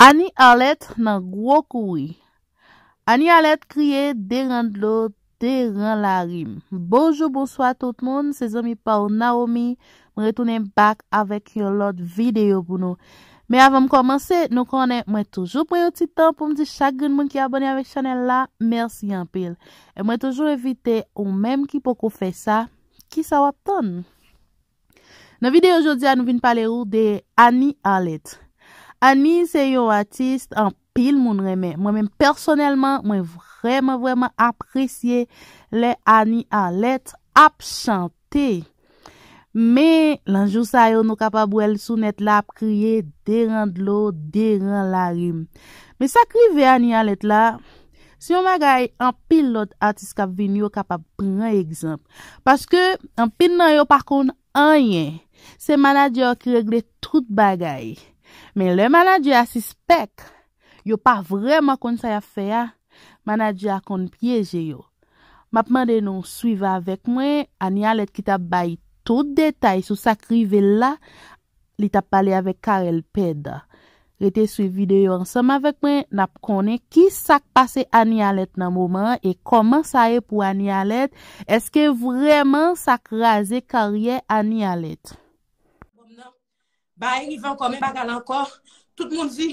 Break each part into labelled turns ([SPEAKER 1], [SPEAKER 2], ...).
[SPEAKER 1] Annie Arlette nan gwo kouri Annie Arlette kriye deran dlo deran lari m Bonjou bonswa tout moun se zanmi pa w Naomi m retounen back avèk yon lòt videyo pou nou men avan m kòmanse nou konnen mwen toujou pran yon ti tan pou m di chak grenn moun ki abòne avèk chanèl la mèsi anpil e mwen toujou envite ou menm ki poko fè sa kisa w ap tann Nan video jodi a nou vin pale ou de Annie Arlette. Annie se yon artiste anpil moun renmen. Mwen menm pèsonèlman mwen vrèman vrèman apresye lè Annie Arlette ap chante. Men lan jou sa yo nou kapab wè l sou nèt la ap kriye deran dlo, deran larim. Men sak rive Annie Arlette la, Se yon bagay anpil lòt atis kap vini yo kapab pran egzanp. Paske anpil nan yo pa konn anyen. Se manadjè yo ki regle tout bagay. Men lè manadjè a sispèk yo pa vrèman konn sa yap fè a, manadjè a konn pyeje yo. Map mande nou swiv avèk mwen Anialet ki tap bay tout detay sou sak rivel la li tap pale avèk Carel Pède. Rete swiv videyo ansanm avèk mwen nap konnen ki sak pase Anie Alerte nan moman an e kòman sa ye pou Anie Alerte, eske vrèman sa kraze karyè Anie Alerte. Bom nan
[SPEAKER 2] bay rivan kòmen bagay la ankò tout moun di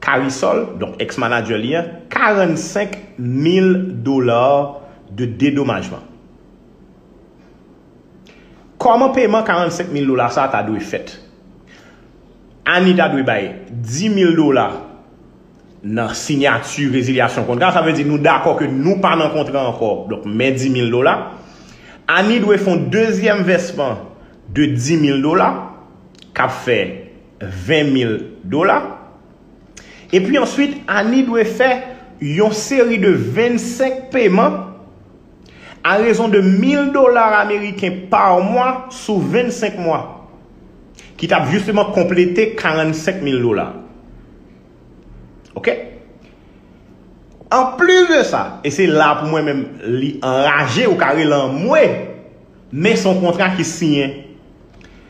[SPEAKER 3] Carisol, donk ex manager li an, 45 mil dollars de dedomajman. Kòman peman 45 mil dola sa ta dwe fèt? Annie ta dwe bay 10 mil dola nan sinyati rezilyasyon kontra, sa vle di nou dakò ke nou pa nan kontra ankò, donk men 10 mil dola. Annie dwe fon dezyèm vèsman de 10 mil dola, kap fè. 20 mil dola. Epi answit Annie dwe fè yon seri de 25 peman a rezon de mil dola ameriken pa mwa sou 25 mwa. Ki t ap jisteman konplete 45 mil dola. Ok. Anplis de sa, e se la pou mwen menm li anraje ou ka rele anmwe, men son kontra ki siyen.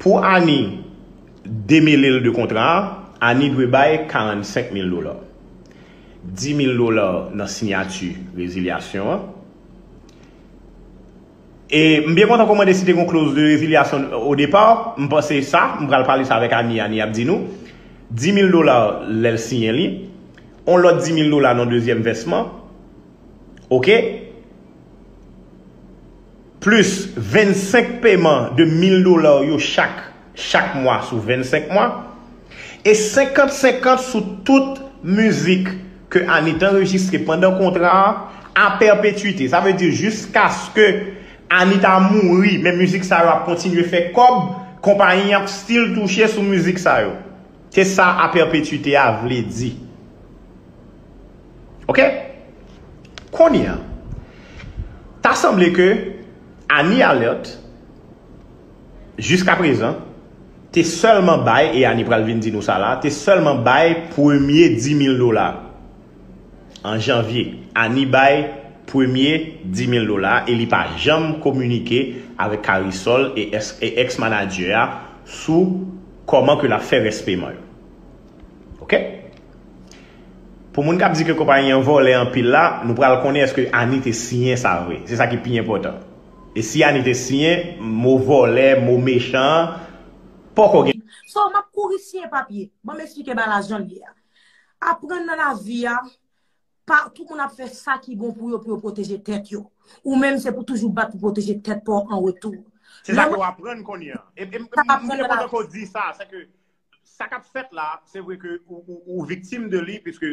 [SPEAKER 3] Pou Annie demele l de kontra a, Annie dwe bay 45 mil dola. 10 mil dola nan sinyati rezilyasyon an. E m byen kontan kòmande si te gen yon kloz de rezilyasyon o depa, m panse sa, m pral pale sa avèk Annie, Annie ap di nou. 10 mil dola lè l siyen li. Yon lòt 10 mil dola nan dezyèm vèsman. Ok? plis 25 peman de 1000 dola w yo chak chak mwa sou 25 mwa, e 50 50 sou tout mizik ke Anit anrejistre pandan kontra a a pèpetuite. Sa vle di jiskaske Anita mouri men mizik sa yo ap kontinye fè kòb, konpayi an ap stil touche sou mizik sa yo. Se sa a pèpetuite a vle di. Ok Kounye a Ta sanble ke Annie Alerte Jiska prezan Te sèlman bay e Annie pral vin di nou sa la Te sèlman bay premye 10000 dola An janvye Annie bay premye 10000 dola e li pa janm kominike avèk Karisol e ex manager a sou Kòman ke lap fè rès peman yo Ok. Pou moun kap di ke konpayi an vòlè anpil la, nou pral konnen eske Annie te siyen sa vre. Se sa ki pi enpòtan. E si Annie te siyen, mo vòlè, mo mechan an, poko gen.
[SPEAKER 2] So, map kouri siyen papye. Banm esplike bagay la jan l ye a. Aprann nan lavi a, pa tout moun ap fè sa ki bon pou yo pou yo pwoteje tèt yo. Ou menm se pou toujou bat pou pwoteje tèt pa w an retou. Se sa ke w aprann
[SPEAKER 3] kounye an. E m te kontan ke w di sa, se ke Sa kap fèt la, se vre ke ou viktim de li, piske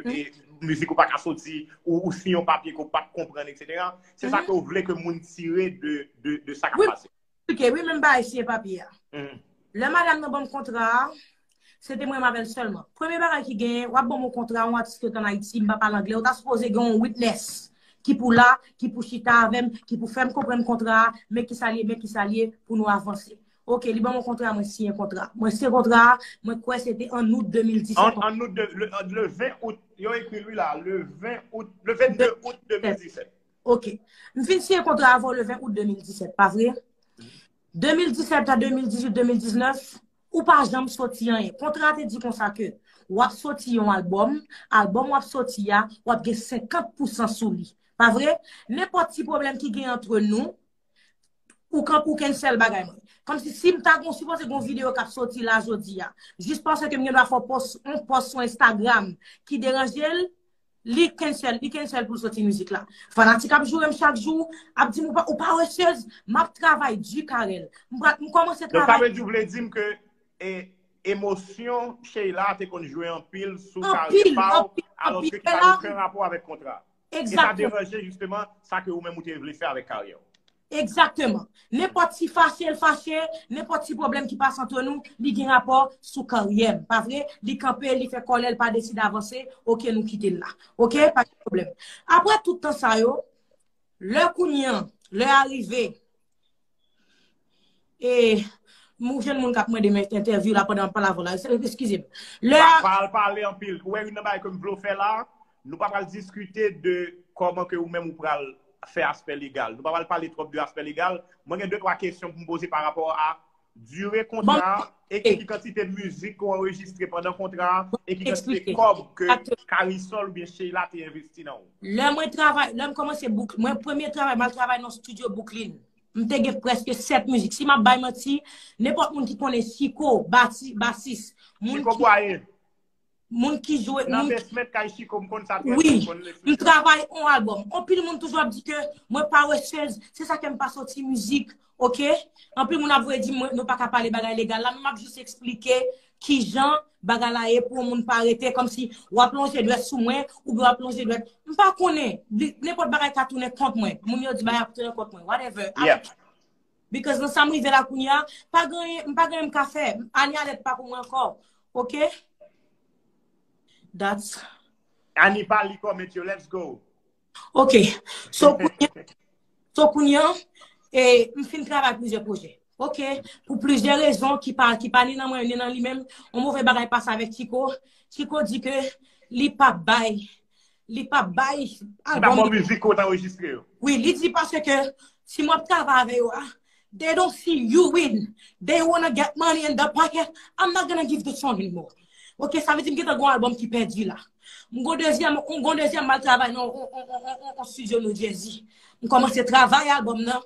[SPEAKER 3] mizik ou pa ka soti, ou si yon papye ke ou pa konprann, etc. Se sa ke ou vle ke moun tire de sa kap pase. Wi, menm bagay
[SPEAKER 2] siye papye a. Lè madam nan banm kontra a, se te mwen avèl sèlman. Premye bagay ki genyen, wap banm yon kontra, yon atis ki ret an Ayiti, mpa pale angle, ou ta sipoze gen yon witness ki pou la, ki pou chita avèm, ki pou fèm konprann kontra a, men kisa liye, men kisa liye, pou nou avanse. Ok, li ban mwen kontra, mwen siyen kontra. Mwen siyen kontra, mwen kwè se te an out 2017. An out 2017,
[SPEAKER 3] le 20 out, yo ekri li la, le 20 out, le 22 out 2017. Ok,
[SPEAKER 2] m fin siyen kontra avon le 20 out 2017, pa vre? 2017 a 2018, 2019, ou pa janm soti an e. Kontra te di konsa ke, wap soti yon album, album wap soti a, wap gen 50% sou li. Pa vre? Nenpòt ti problem ki gen entre nou, Ou kanpe ou kèn sèl bagay mwen. Kòm si si m ta gon sipoze gon video kap soti la jodi a. Jis paske ke m gen dwa fè yon pòs sou Instagram ki deranje l, li kèn sèl, li kèn sèl pou l soti mizik la. Fanatik ap joure m chak jou, ap di m ou pa osyez, m ap travay di Carel. M pral, m kòmanse travay. Donk sa vle di ou vle di m ke
[SPEAKER 3] emosyon Sheilla te konn jwe anpil sou karyè pa w, alòske ki
[SPEAKER 2] pa
[SPEAKER 3] gen oken rapò avèk kontra. E sa deranje
[SPEAKER 2] jisteman
[SPEAKER 3] sa ke ou menm ou te vle fè avèk karyè ou. Egzakteman.
[SPEAKER 2] Nenpòt ti fache l fache, nenpòt ti pwoblèm ki pase antre nou, li gen rapò sou karyè m. Pa vre? Li kanpe, li fè kòlè, li pa deside avanse, ok nou kite l la. Ok? Pa gen pwoblèm. Aprè tout tan sa yo, lè kounye an, lè a rive. E mou jèn moun kap mande men entèvyou la pandan palav la. Eskize m. Lè a. Pa al pale anpil.
[SPEAKER 3] Ou wè youn nan bagay ke m vle w fè la a? Nou pa pral diskite de kòman ke ou menm ou pral fè aspè legal. Nou pa pral pale twòp de aspè legal. Mwen gen de twa kesyon pou m poze pa rapò a dire kontra a. E ki kantite mizik ki anrejistre pandan kontra a, e ki kantite kòb ke Karisòl ou byen Sheila te envesti nan ou? Lè mwen travay, lè m
[SPEAKER 2] kòmanse bouk, mwen premye travay m al travay nan studio Bouklin. M te gen prèske 7 mizik. Si m ap bay manti, nenpòt moun ki konnen Chiko, basis, moun ki. Chiko Bwaye.
[SPEAKER 3] Moun
[SPEAKER 2] ki jwe... Nan besment kay chiko m konn sa
[SPEAKER 3] trè byen m konn l ekri. Wi, m
[SPEAKER 2] travay on album. Anpil moun toujou ap di ke mwen pa wè chèz, se sa fèm pa soti mizik, ok? Anpil moun ap voye di mwen nou pa ka pale bagay legal la, men m ap jis eksplike ki jan bagay la ye pou yon moun pa rete kòm si w ap lonje dwèt sou mwen ou byen w ap lonje dwèt. M pa konnen, nenpòt bagay ka tounen kont mwen. Moun yo di bagay ap tounen kont mwen. Whatever.
[SPEAKER 3] Because nan
[SPEAKER 2] sa m rive la kounye a, pa gen anyen, m pa gen anyen m ka fè. Ani Alèt pa pou mwen ankò. Ok? That's. Ani pa
[SPEAKER 3] li comment yo, let's go. Ok. So
[SPEAKER 2] kounye a, so kounye a, e, m fin travay plizyè pwojè. Ok. Pou plizyè rezon ki pa, ki pa ni nan mwen, ni nan li menm, yon move bagay pase avèk Chiko. Chiko di ke li pa bay Li pa bay album.
[SPEAKER 3] Li pa bon mizik ou t anrejistre yo. Wi, li di paske
[SPEAKER 2] si mwen ap travay avè yo a, they don't see you win. They wanna get money in the pocket. I'm not gonna give the song any more. Ok, sa vle di m gentan gen yon album ki pèdi la. M gen yon dezyèm, m gen yon dezyèm m al travay nan yon studio New Jersey. M kòmanse travay album nan.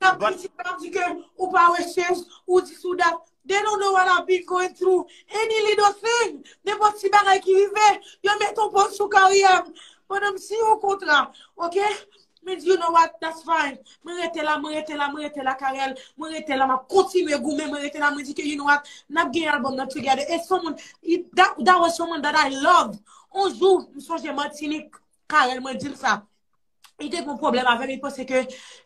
[SPEAKER 3] Nap kritike nap di ke ou
[SPEAKER 2] pa wè chèz, ou dis ou dat, they don't know what I've been going through, any little thing, nenpòt ti bagay ki rive, yo met on pòz sou karyè m, pandan m siyen on kontra, ok, me di you know what, that's fine, mwen rete la, mwen rete la, mwen rete la Carel, mwen rete la, map kontinye goumen, mwen rete la, mwen di ke you know what, nap gen album nan together, e son moun, that was someone that I loved, on jou, m sonje Martinique, Carel mwen dil sa. Li te kon problem avèm, li pense ke...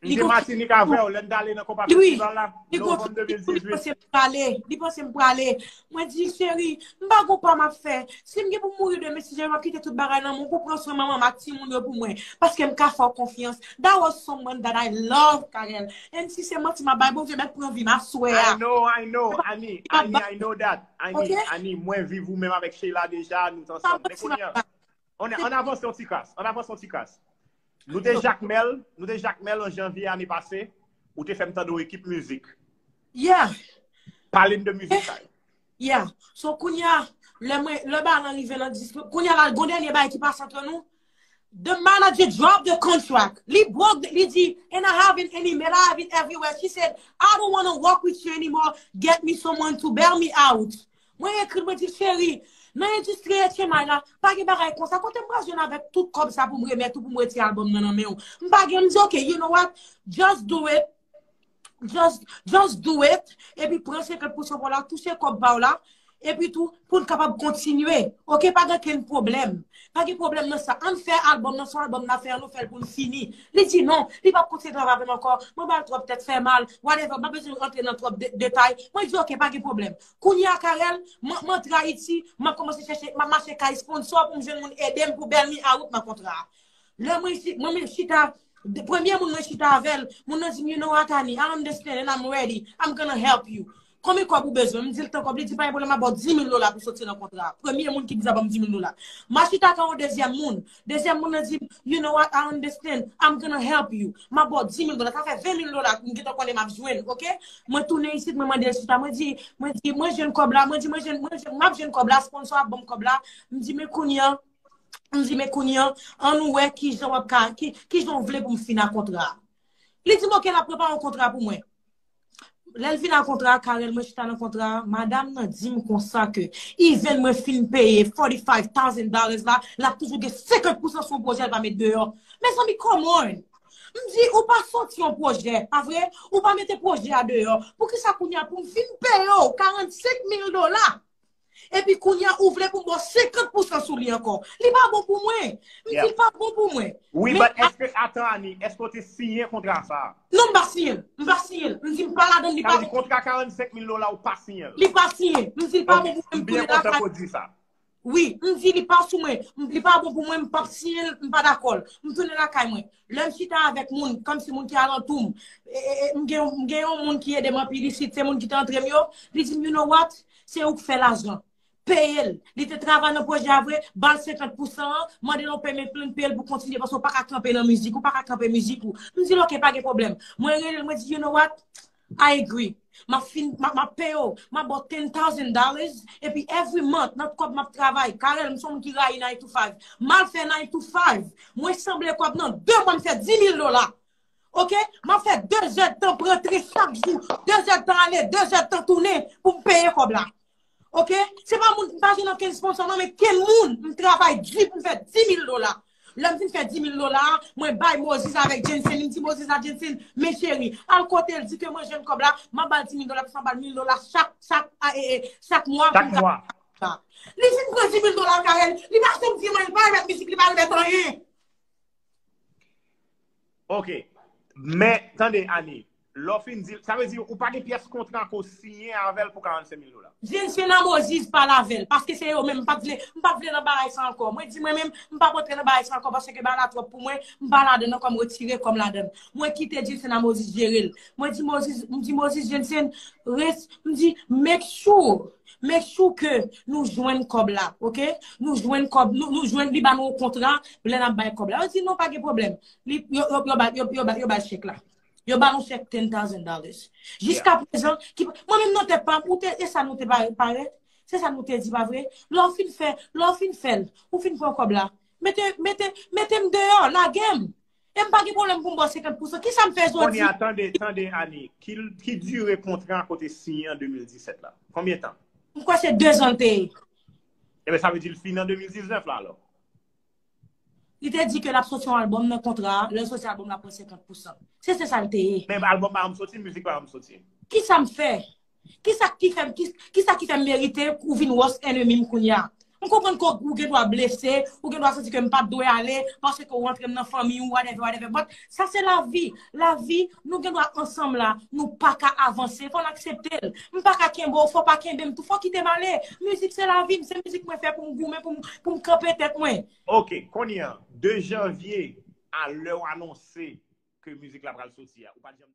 [SPEAKER 2] Li te matinik
[SPEAKER 3] avèw, lèn dale nan kompa festival la, novem 2018. Li
[SPEAKER 2] pense m prale. Mwen di, cheri, m pa kon pa m ap fè. Si m gen pou mouri demen, si jè m ap kite tout bagay nan moun pou pran swen manman m ak ti moun yo pou mwen. Paske m ka fè w konfyans. That was someone that I love, Carel. And si se manti m ap bay, Bondye mèt pran vi m, aswè a. I know, I know,
[SPEAKER 3] Annie, Annie, I know that. Annie, Annie, mwen viv ou menm avèk Sheila deja, nou t ansanm. Mwen konnen. Ann avanse yon ti kras, ann avanse yon ti kras. Nou te Jakmèl, nou te Jakmèl an janvye ane pase, ou te fè m tande yon ekip mizik. Yeah! Pale m de mizik sa yo.
[SPEAKER 2] Yeah! So kounye a, lè mwen, lè bagay lan rive nan dis, kounye a la gon dènye bagay ki pase antre nou, the manager drop the contract, li broke the, li di, and I have it any, and I have it everywhere, she said, I don't wanna work with you anymore, get me someone to bail me out. Mwen ekri l, mwen di l, cheri, nan endistri etchemay la, pa gen bagay konsa, kote m pral jwenn avèk tout kòb sa pou m remèt ou, pou m retire albòm nan nan men ou? M pa gen, m di ok, you know what, just do it, just, just do it, epi pran 50 pou chan pou w la, touche kòb pa w la, epi tou, pou n kapab kontinye, ok, pa gen okenn pwoblèm, pa gen pwoblèm nan sa, ann fè albòm nan, se yon albòm n ap fè an, nou fè l pou l fini. Li di non, li pa p kontinye travay avè m ankò, mwen ba l twòp tèt fè mal, whatever, m pa bezwen rantre nan twòp detay, mwen di ok, pa gen pwoblèm. Kounye a Carel, mwen antre Ayiti, mwen kòmanse chèche, mwen mache kay sponsò pou mwen jwenn moun ede mwen pou bèl mi a wout nan kontra a. Lè mwen isi, mwen menm chita, premye moun mwen chita avè l, moun nan di m, you know Atani, I understand and I'm ready, I'm gonna help you. Konbyen kòb ou bezwen? M di l tan kòb, li di pa gen pwoblèm map ba w 10 mil dola pou soti nan kontra a. Premye moun ki di sa ban m 10 mil dola. M a chita ak yon dezyèm moun, Dezyèm moun nan di m, You know what, I understand. I'm gonna help you. M ap ba w 10,000 dola. Sa fè 20,000 dola m gentan konnen m ap jwenn, oke. Mwen tounen isit, mwen mande l chita. Mwen di, mwen di, mwen jwenn kòb la. Mwen di, mwen jwenn, mwen jwenn, m ap jwenn kòb la. Sponsor ap ban m kòb la. M di, men kounye an, m di, men kounye an, an nou wè ki jan w ap ka, ki jan w vle pou m fina kontra a. Li di m, oke, l ap prepare yon kontra pou mwen. Lèl vin a kontra a Carel mwen chita nan kontra a madam nan dim konsa ke even mwen fin peye 45 thousand dollars la lap toujou gen 50 pousan sou yon pwojè l pa met deyò mezanmi come on m di ou pa soti yon pwojè pa vre ou pa mete pwojè a deyò poukisa kounya poum fin peye w 45 mil dola Epi kounya ou vle pou m bo 50 pousan sou li ankò. Li pa bon pou mwen. M di l pa bon pou mwen. Wi but eske
[SPEAKER 3] atan Annie, eske w te siyen kontra sa? Non m pa siyen l.
[SPEAKER 2] M pa siyen l. M di m pa ladan l li pa bon. Sa vle di kontra 45 mil
[SPEAKER 3] dola ou pa siyen l? Li pa siyen. M
[SPEAKER 2] di l pa bon pou mwen m tounen lakay. Ok, m byen kontan ke w di sa.
[SPEAKER 3] Wi, m di
[SPEAKER 2] li pa sou mwen. Li pa bon pou mwen m pap siyen l, m pa dakò l. M tounen lakay mwen. Lè m chita avèk moun, kòm si moun ki alantou m, m gen yon moun ki ede m anpil isit, se moun ki te antre m yo, li di m, you know what, se ou k fè lajan. Peye l. Li te travay nan pwojè a vre, ba l 50 pou 100 an, mande l yon payment plan, peye l pou kontinye, paske ou pa ka kanpe nan mizik, ou pa ka kanpe mizik ou. M di l ok, pa gen pwoblèm. Mwen rele l, mwen di, you know what, I agree. Map fin, map peye w, map ba w ten thousand dollars, epi every month nan kob map travay, Carel m son moun ki rayi nine to five, mal fè nine to five, mwen sanble kob nan 2 mwa m fè 10000 dola. Ok, map fè 2 zèdtan prantre chak jou, 2 zèdtan ale, 2 zèdtan tounen pou m peye kob la. Ok, se pa moun, m pa jwenn okenn sponsò non, men ke moun m travay di pou m fè 10.000 dola. Lè m fin fè 10.000 dola, mwen bay Moses avèk Jensen, m di Moses a Jensen, men cheri, al kote l, di ke mwen jwenn kòb la, m ap ba l 10.000 dola, plis m ap ba l 1.000 dola chak, chak, a, e, e, chak mwa pou m ka fè mizik la.
[SPEAKER 3] Li fin
[SPEAKER 2] pran 10.000 dola l kay el, li pa janm di mwen, li pa remèt mizik, li pa remèt anyen.
[SPEAKER 3] Ok, men tande Annie, lè w fin dil, sa vle di ou pa gen pyès kontra anko w siyen avèl pou 45 mil dola? Vin fin nan
[SPEAKER 2] Moziz pale avèl, paske se yo menm, m pa vle, m pa vle nan bagay sa ankò, mwen di mwen menm, m pap antre nan bagay sa ankò paske bagay la twòp pou mwen, m pa ladann ankò m retire kòm ladann. Mwen kite Jensen a Moziz jere l. Mwen di Moziz, m di Moziz Jensen, res, m di make sure Men chou ke nou jwenn kòb la ok nou jwenn kòb nou jwenn li ba nou yon kontra lè nap bay kòb la yo di non pa gen pwoblèm li yo bay chèk la yo ba nou chèk ten thousand dollars jiska prezan mwen menm nan tèt pam ou te e sa nou te parèt se sa nou te di pa vre lè ou fin fè lè ou fin fèl ou fin pran kòb la mete mete metem deyò lagem E m pa gen pwoblèm pou m ba w 50 pousan. Kisa m fè jodi? Kounye a, tande, tande
[SPEAKER 3] Annie, ki dire kontra ke w te siyen an 2017 la? Konbyen tan? M kwè se 2 zan l
[SPEAKER 2] te ye. Eben, sa
[SPEAKER 3] vle di l fini an 2019 la alò?
[SPEAKER 2] Li te di ke l ap soti yon albòm nan kontra a, lè l soti albòm l ap pran 50 pousan. Se se sa l te ye. Men albòm pa janm soti,
[SPEAKER 3] mizik pa janm soti. Kisa m fè?
[SPEAKER 2] Kisa ki fè kisa ki fè m merite ou vin wòs ènemi m kounye a? M konprann ke ou gen dwa blese, ou gen dwa santi ke m pa t dwe ale paske ou antre m nan fanmi ou whatever whatever but sa se lavi, lavi nou gen dwa ansanm la nou pa ka avanse fò n aksepte l m pa ka kenbe w fò w pa kenbe m tou fò w kite m ale mizik se lavi m se mizik mwen fè pou m goumen pou m kanpe tèt mwen. Ok kounye a
[SPEAKER 3] 2 janvye a lè w anonse ke mizik la pral soti a ou pa t janm.